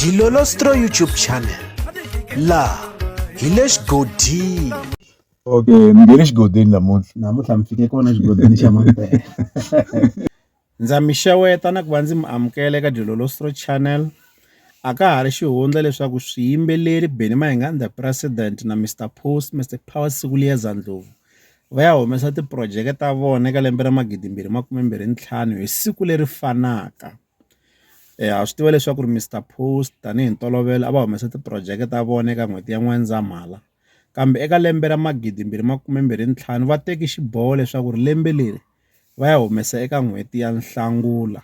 Dilolostro YouTube channel la hi le xigodini okay mi nge le xigodini namuntlha namuntlha mi fike kona xigodini xa mampela ndza mi xeweta na ku va ndzi mi amukela eka dilolostro channel a ka ha ri xihundla leswaku swiyimbeleri beni mahingani the president na mr post mr power siku liya zandlovu va ya humesa tiprojeke ta vona eka lembe ra magidimbirhi makume mbirhi ntlhanu hi siku leri fanaka ha swi tiva leswaku ri Mister Post tanihi ntolovelo a va humesa ti-project ta vona eka n'hweti ya N'wendzamhala kambe eka lembe ra magidi mbirhi makume mbirhi ntlhanu va teki xiboho leswaku ri lembe leri va ya humesa eka n'hweti ya Nhlangula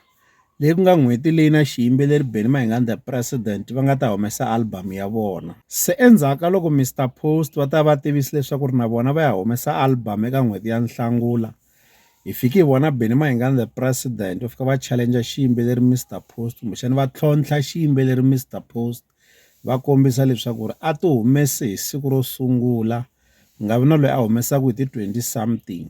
leyi ku nga n'hweti leyi na xiyimbeleri Benny Mayengani the president va nga ta humesa album ya vona se endzhaku ka loko Mister Post va ta va tivisa leswaku ri na vona va ya humesa album eka n'hweti ya Nhlangula. hi fiki hi vona Benny Mayengani the president va fika va challenge xiyimbeleri Mister Post kumbexana va tlhontlha xiyimbeleri Mister Post va kombisa leswaku ri a ti humese hi siku ro sungula ku nga vi na loyi a humesaka hi ti twenty something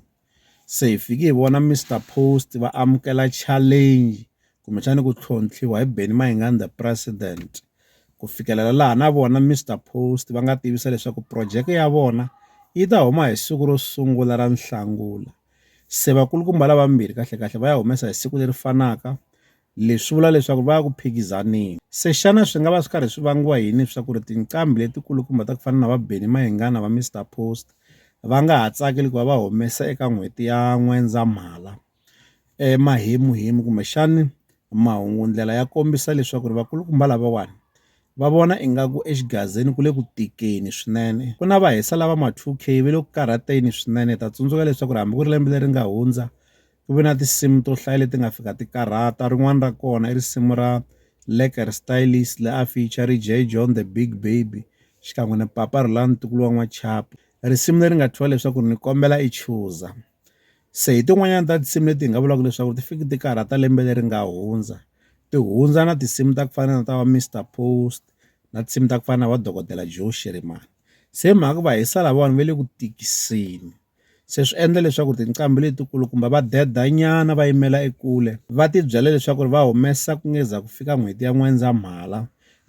se hi fiki hi vona Mister Post va amukela challenge kumbexana ku tlhontlhiwa hi Benny Mayengani the president. ku fikelela laha na vona Mister Post va nga tivisa leswaku projeke ya vona yi ta huma hi siku ro sungula ra Nhlangula, se vakulukumba lavambirhi kahlekahle va ya humesa hi siku leri fanaka, leswi vula leswaku va ya ku phikizaneni. Se xana swi nga va swi karhi swi vangiwa yini swa ku ri tinqambi letikulukumba ta ku fana na va Benny Mayengani na va Mister Post va nga ha tsakeli ku va va humesa eka n'hweti ya N'wendzamhala? emahemuhemu kumbexani mahungu ndlela ya kombisa leswaku ri vakulukumba lavawani va vona ingaku exigazini ku le ku tikeni swinene ku na va hisa lava ma two K va le ku karhateni swinene hi ta tsundzuka leswaku ri hambi ku ri lembe leri nga hundza ku ve na tinsimu to hlaya leti nga fika ti karhata rin'wani ra kona i risimu ra Lekker Stylies la a feature-ri Jay John the Big Baby xikan'we na Papa Rhulani ntukulu wa n'wachapi risimu leri nga thyiwa leswaku ni kombela i chuza. se hi tin'wanyani ta tinsimu leti hi nga vulaka leswaku ti fiki ti karhata lembe leri nga hundza ti hundza na tinsimu ta ku fana na ta va Mister Post na tinsimu ta ku fana na va dokodela Joe Shirimani se hi mhaka va hisa lavawani va le ku tikiseni se swi endla leswaku tinqambi letikulu kumbe va deda nyana va yimela ekule va ti byela leswaku ri va humesa ku ngeza ku fika n'hweti ya N'wendzamhala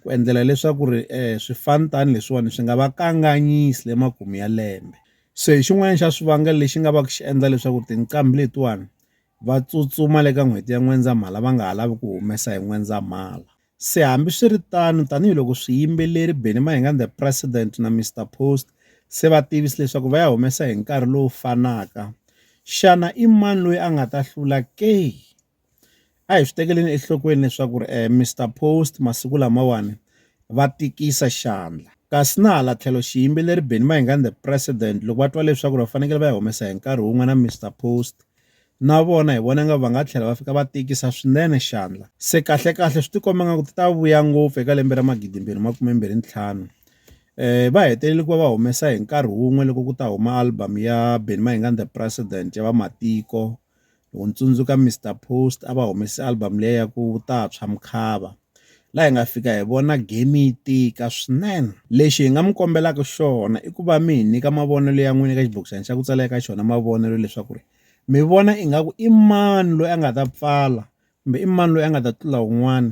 ku endlela leswaku ri um swifani tani leswiwani swi nga va kanganyisi le makumu ya lembe Se hi xin'wana xa swivangelo lexi nga va ku xi endla leswaku tinqambi letiwani va tsutsuma le ka n'hweti ya N'wendzamhala va nga ha lavi ku humesa hi N'wendzamhala. Se hambiswiritano, tanihiloko swiyimbeleri Benny Mahinga and the President na Mister Post se va tivise leswaku va ya humesa hi nkarhi lowu fanaka, xana i mani loyi a nga ta hlula ke? a hi swi tekeleni enhlokweni leswaku ri Mister Post masiku lamawani va tikisa xandla kasi na hala tlhelo xiyimbeleri Benny Mayengani the president loko va twa leswaku va fanekele va yi humesa hi nkarhi wun'we na Mister Post na vona hi vona nga va nga tlhela va fika va tikisa swinene xandla se kahle kahle swi tikomba nga ku ti ta vuya ngopfu eka lembe ra magidimbirhi makumembirhi ntlhanu eh va hetelele ku va va humesa hi nkarhi wun'we loko ku ta huma album ya Benny Mayengani the president ya vamatiko Loko ni tsundzuka Mister Post a va humese album liya ya ku Vutantshwa Mkhava laha hi nga fika hi vona game yi tika swinene lexi hi nga mi kombelaka xona i ku va mi hi nyika mavonelo ya n'wina eka xibokisana xa ku tsala eka xona mavonelo leswaku ri mi vona ingaku i mani loyi a nga ta pfala kumbe i mani loyi a nga ta tlula un'wana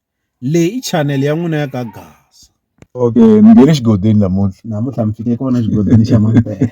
Leyi i chanel ya n'wina ya ka Gasa. Okay, mi nghene xigodeni namuntlha. Namuntlha mi fike kona xigodeni xa Mampela.